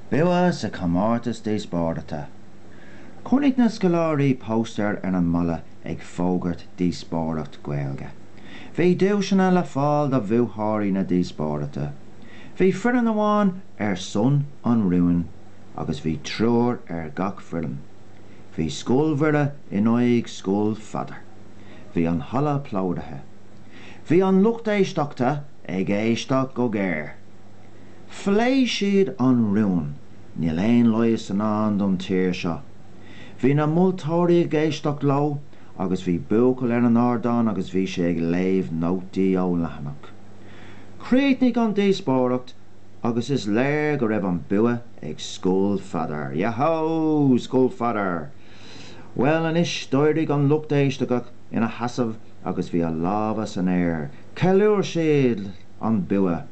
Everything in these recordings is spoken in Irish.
Bua sa Chomórtas Díospóireachta. Chonaic na scoláirí póstaer ar an mballa ag fógairt díospóireacht Gaeilge. Bhí duaiseanna le fáil do bhuaiteoirí na díospóireachta. Bhí foireann amháin ar son an rúin agus bhí triúr ar gach foireann. Bhí Scoil Mhuire in aghaidh Scoil Pheadair. Bhí an halla plódaithe. Bhí an lucht éisteachta ag éisteacht go géar. Phléigh siad an rún 'Níl aon leigheas i ndán don tír seo'. Bhí na moltóirí ag éisteacht leo agus bhí buachaill ar an ardán agus bhí sé ag léamh nótaí ó leathanach. Chríochnaigh an díospóireacht agus is léir go raibh an bua ag Scoil Pheadair. Yahoo! Scoil Pheadair! Bhuel anois d'éirigh an lucht éisteachta ina sheasamh agus bhí a lámha san aer, cheiliúir siad an bua,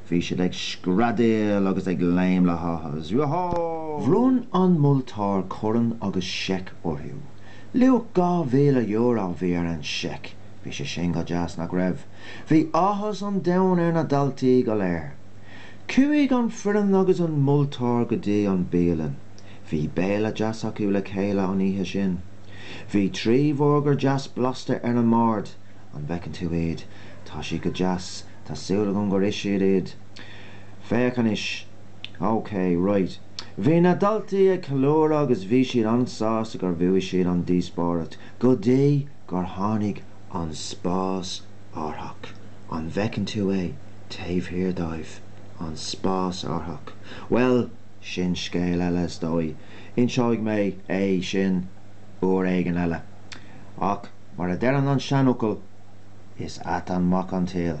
bhí siad ag screadaíl agus ag léim le háthas, Yahoo! Bhronn an moltóir corn agus seic orthu. Luach €2,000 a bhí ar an seic, bhí sé sin go deas, nach raibh? Bhí áthas an domhain ar na daltaí go léir. Chuaigh an foireann agus an moltóir go dtí an bialann. Bhí béile deas acu le chéile an oíche sin. Bhí trí bhurgar deas blasta ar an mbord. An bhfeiceann tú iad? Tá siad go deas. Tá súil agam gur ith siad iad. Féach anois. OK, raight. Bhí na daltaí ag ceiliúradh agus bhí siad an-sásta gur bhuaigh siad an díospóireacht go dtí gur tháinig an spásárthach. An bhfeiceann tú é taobh thiar dóibh? An spásárthach. Bhuel, sin scéal eile is dóigh. Inseoidh mé é sin uair éigin eile. Ach mar a deireann an seanfhocal, is ait an mac an saol.